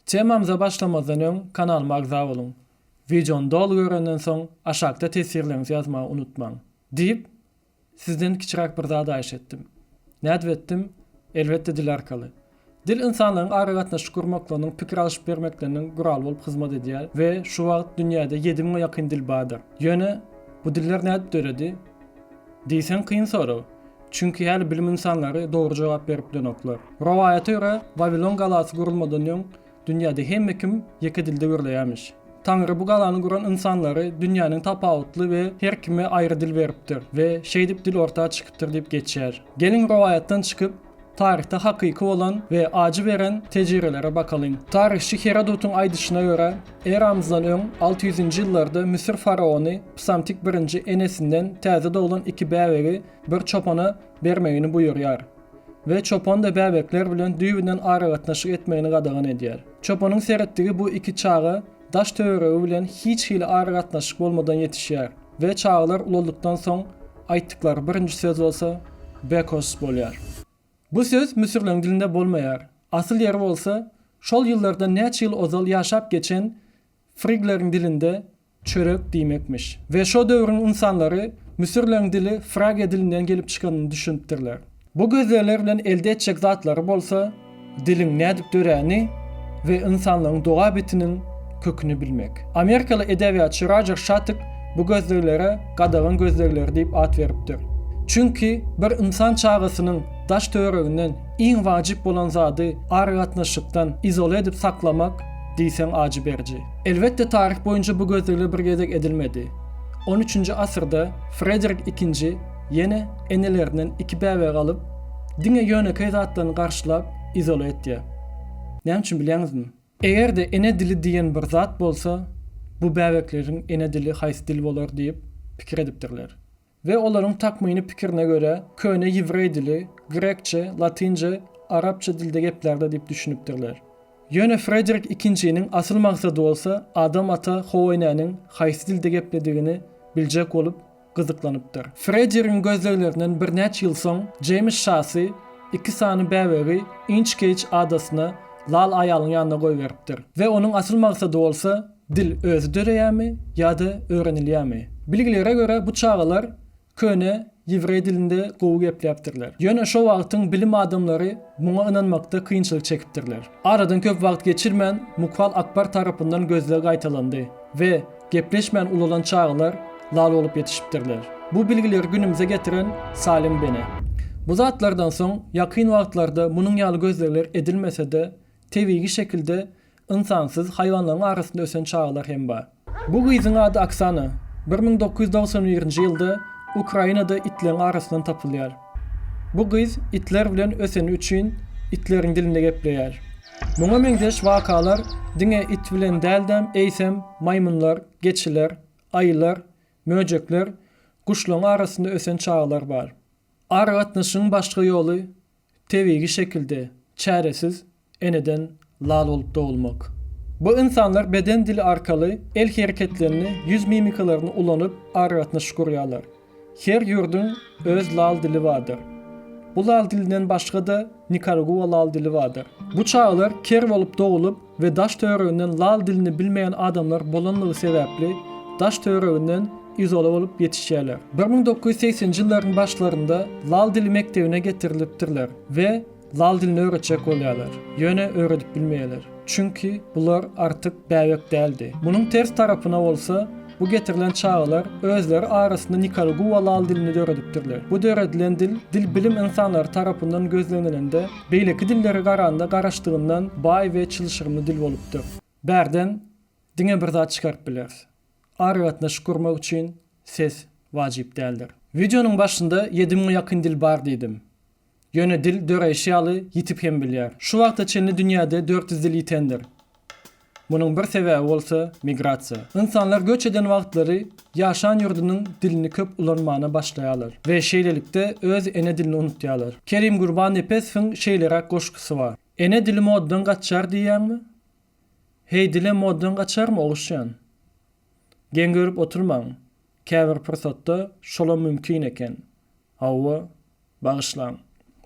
Temamyza başlamazdan öň kanalyma agza boluň. Wideony doly görenden soň aşakda teswirleriňizi ýazmagy unutmaň. Diýip, sizden kiçiräk bir zat aýyş etdim. Nädip etdim? Elbetde dil arkaly. Dil ynsanlaryň aragatnaşyk gurmaklarynyň, pikir alşyp bermekleriniň guraly bolup hyzmat edýär we şu wagt dünýäde ýedi müňe ýakyn dil bardyr. Ýöne bu diller nädip döredi? Diýseň kyn sorag. Çünki häli bilim ynsanlary dogry jogap berip bilenoklar. Rowaýata görä, Wawilon galasy gurulmadan öň, dünýäde hemme kim ýeke dilde gürleýärmiş. Taňry bu galany guran ynsanlary dünýäniň tapawutly we her kime aýry dil beripdir we şeýdip dil orta çykypdyr diýip geçýär. Geliň rowaýatdan çykyp, taryhda hakyky bolan we ajy beren tejirelere bakalyň. Taryhçy Herodotyň aýdyşyna görä, eramyzdan öň alty ýüzünji ýyllarda Müsür faraony Psamtik birinji enesinden täze doglan iki bäbegi bir çopana bermegini buýurýar we çopan-da bäbekler bilen düýbünden aragatnaşyk etmegini gadagan edýär. Çopanyň seretdigi bu iki çaga daş-töweregi bilen hiç hili aragatnaşyk bolmadan ýetişýär we çagalar ulaldykdan soň aýtdyklary birinji söz bolsa Bekos bolýar. Bu söz müsürleriň dilinde bolmaýar. Asyl ýeri bolsa, şol ýyllardan näçe ýyl ozal ýaşap geçen Frigleriň dilinde çörek diýmekmiş. We şo döwrüň ynsanlary müsürleriň dili Fragiýa dilinden gelip çykanyny düşünipdirler. Bu gözlegler bilen elde etjek zatlary bolsa diliň nädip döräni we ynsanlygyň dogabitiniň köküni bilmek. Amerikaly edebiýatçy Rojer Şatyk bu gözleglere gadagan gözlegleri diýip at beripdir. Çünki bir ynsan çagasynyň daş-töwereginden iň wajyp bolan zady aragatnaşykdan izole edip saklamak, diýseň ajy beriji. Elbetde taryh boýunça bu gözlegler bir gezek edilmedi. On üçünji asyrda Frederik ikinji ýene enelerinden iki bäbegi alyp, diňe ýönekeý zatlaryny garşylap izola etýär. Näme üçin bilýäňizmi? Eger-de ene dili diýen bir zat bolsa, bu bäbekleriň ene dili haýsy dil bolar diýip pikir edipdirler. We olaryň takmyny pikirine görä, köne ýewreý dili, grekçe, latynca, arapça dilde geplärdi diýip düşünipdirler. Ýöne Frederik Ikinjiniň asyl maksady bolsa Adam ata Howeýnäniň haýsy dilde gepledigini biljek bolup gyzyklanypdyr. Frederigiň gözleglerinden birnäçe ýyl soň Jeýms Şasy iki sany bäbegi Inçkeýç adasyna lal aýalyň ýanyna goýberipdir. We onuň asyl maksady bolsa Dil özi döreýärmi ýa-da öwrenilýärmi? Bilgilere görä bu çagalar köne ýewreý dilinde gowy gepläpdirler. Ýöne şo wagtyň bilim adamlary muňa ynanmakda kynçylyk çekipdirler. Aradan köp wagt geçirmän Mughal Akbar tarapyndan gözleg gaýtalandy we gepleşmän ulalan çagalar lal bolup ýetişipdirler. Bu bilgileri günümize getiren Salim Bene. Bu zatlardan soň ýakyn wagtlarda munuň ýaly gözlegler edilmese-de, tebigi şekilde Ynsansyz haýwanlaryň arasynda ösen çagalar hem bar. Bu gyzyň ady Oksana. Bir müň dokuz ýüz togsan birinji ýylda Ukrainada itleriň arasyndan tapylýar. Bu gyz itler bilen öseni üçin itleriň dilinde gepleýär. Muňa meňzeş wakalar diňe it bilen däldem eýsem maýmynlar, geçiler, aýylar, möjekler, guşlaryň arasynda ösen çagalar bar. Aragatnaşygyň başga ýoly Tebigy şekilde çäresiz eneden lal bolup dogulmak. Bu ynsanlar beden dili arkaly el hereketlerini, ýüz mimikalaryny ulanyp aragatnaşyk gurýarlar. Her ýurduň öz lal dili bardyr. Bu lal dilinden başga-da Nikaraguwa lal dili bardyr. Bu çagalar ker bolup dogulyp, we daş-töwereginden lal dilini bilmeýän adamlar bolanlygy sebäpli daş-töwereginden izola bolup ýetişýärler. Bir müň dokuz ýüz segsenji ýyllaryň başlarynda lal dili mekdebine getirilipdirler we lal dilini öwretjek bolýarlar, ýöne öwredip bilmeýärler, çünki bular artyk bäbek däldi. Munuň ters tarapyna bolsa, Bu getirilen çagalar özleri arasynda nikaraguwa lal dilini döredipdirler. Bu döredilen dil, dil bilim ynsanlary tarapyndan gözlenilende, beýleki dillere garanda garaşdygyndan baý we çylşyrymly dil bolupdyr. Bärden diňe bir zat çykaryp bileris, aragatnaşyk gurmak üçin ses wajyp däldir. Wideonyň başynda ýedi müňe ýakyn dil bar diýdim. Ýöne dil döreýşi ýaly ýitip hem bilýär. Şu wagta çenli dünýäde dört ýüz dil ýitendir. Munuň bir sebäbi bolsa migrasiýa. Ynsanlar göç eden wagtlary ýaşan ýurdunyň dilini köp ulanmana başlaýarlar we şeýlelikde öz ene dilini unutýarlar. Kerim Gurbannepesowyň şeýleräk goşgusy bar. Ene dili modadan gaçýar diýýäňmi? Heý dilem modadan gaçarmy oguşjan? Geň görüp oturmaň, käbir pursatda şolam mümkin eken. Hawa, Bagyşlaň.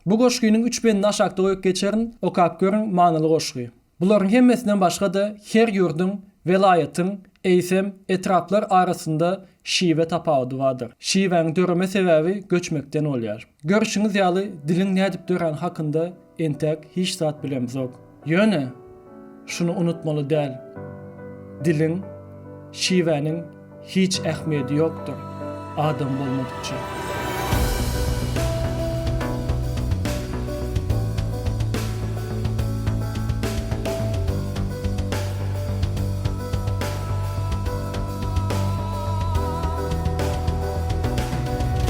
Bu goşgynyň üç bendini aşakda goýup geçerin, okap görüň, manyly goşgy. Bularyň hemmesinden başga-da her ýurduň, welaýatyň, eýsem, etraplar arasynda şiwe tapawudy bardyr. Şiwäň döreme sebäbi göçmekden bolýar. Görşüňiz ýaly, diliň nädip döräni hakynda Entek hiç zat bilemzok. Ýöne, şuny unutmaly däl, diliň, şiwäniň hiç ähmiýedi ýokdur, adam bolmadykça.